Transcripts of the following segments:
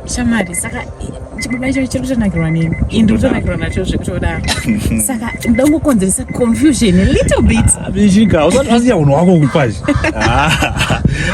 shamari saka chibaba icho chiri kutonakirwa neni ini ndiri kutonakirwa nacho zvekutoda saka ndoda kungokonzeresa confusion a little bit abichinga ah, usati wasiya unhu wako kupazi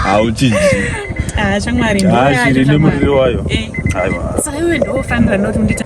hauchinji ah, ah, shamari ndiri nemuriri wayo eh. saka iwe ndofanira noti undita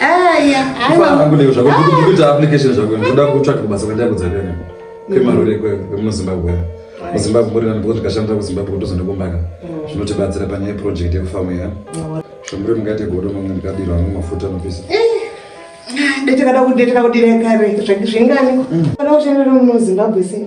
Aya, aiwa. Kufa hangu leo zvako kuti kuita application zvako ndoda kutsvaga basa kwenda kudzakana. Kwemarure kwe kwemuno Zimbabwe. MuZimbabwe muri nani kuti kashanda kuZimbabwe kutozonde kumbaka. Mm. Zvinotibatsira pane project yekufamu ya. Shomure mungate godo mamwe ndikabirwa mu mafuta no pesa. Eh. Ndechakada kudetera kudireka re zvingani. Mm. Kana uchenera mu Zimbabwe sei?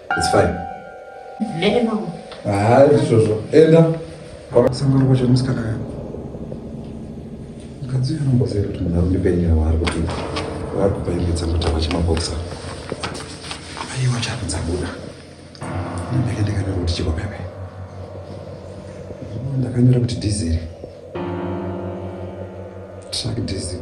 It's fine. Mene mama. Ah, izvozvo. Enda. Sangano kwacho musikana yako. Mukadzi anombozera kuti munhu anondipenya waari kuti waari kupa imbe dzangu tava chimabokisa. Aiwa chako dzabuda. Ndinenge ndikanyora kuti chiko pepe. Ndakanyora kuti dhiziri. Tsvaki dhiziri.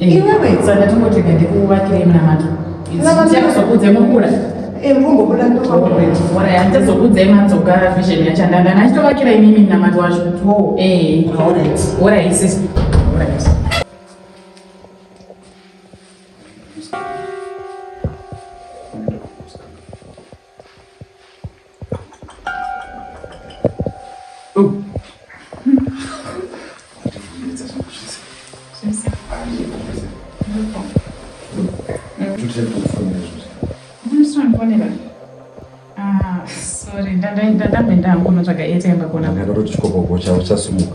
Eh, iwewe saka ndatingoti gade kuvakire munamato ndichazokudze mukura ndichazokudze madzoka vision yacho ndanga nachitovakira imimi munamato wacho orai sisi Sorry, ndanda ndanda menda hangu notsvaga airtime pakona. Ndakatoti chikopo gocha uchasumuka.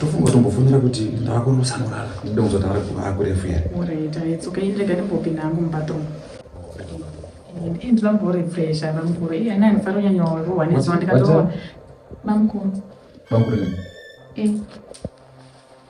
tofunga tombofonera kuti ndavakunosamurara ndida kuzotaura kuti vakurefu here oraitaitsoka indrega ndimbopinda hangu mubathroom ndinoda kumborefresha bamukuru iye ana anofara kunyanya rohwa nezuva ndikatoona bamukuru bamukuru eh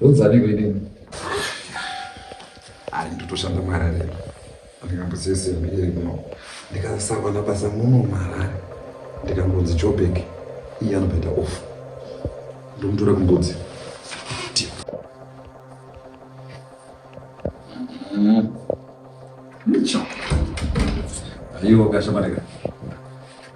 Ndodzaniko inini? Ari ndotoshanda muHarare. Ndikambosiya CV iri kuno. Ndikasawana basa muno muHarare. Ndikangonzi Joburg iye anobhedha off. Ndomutora kumbudzi. Ndicho. Ayiwa kashamarika.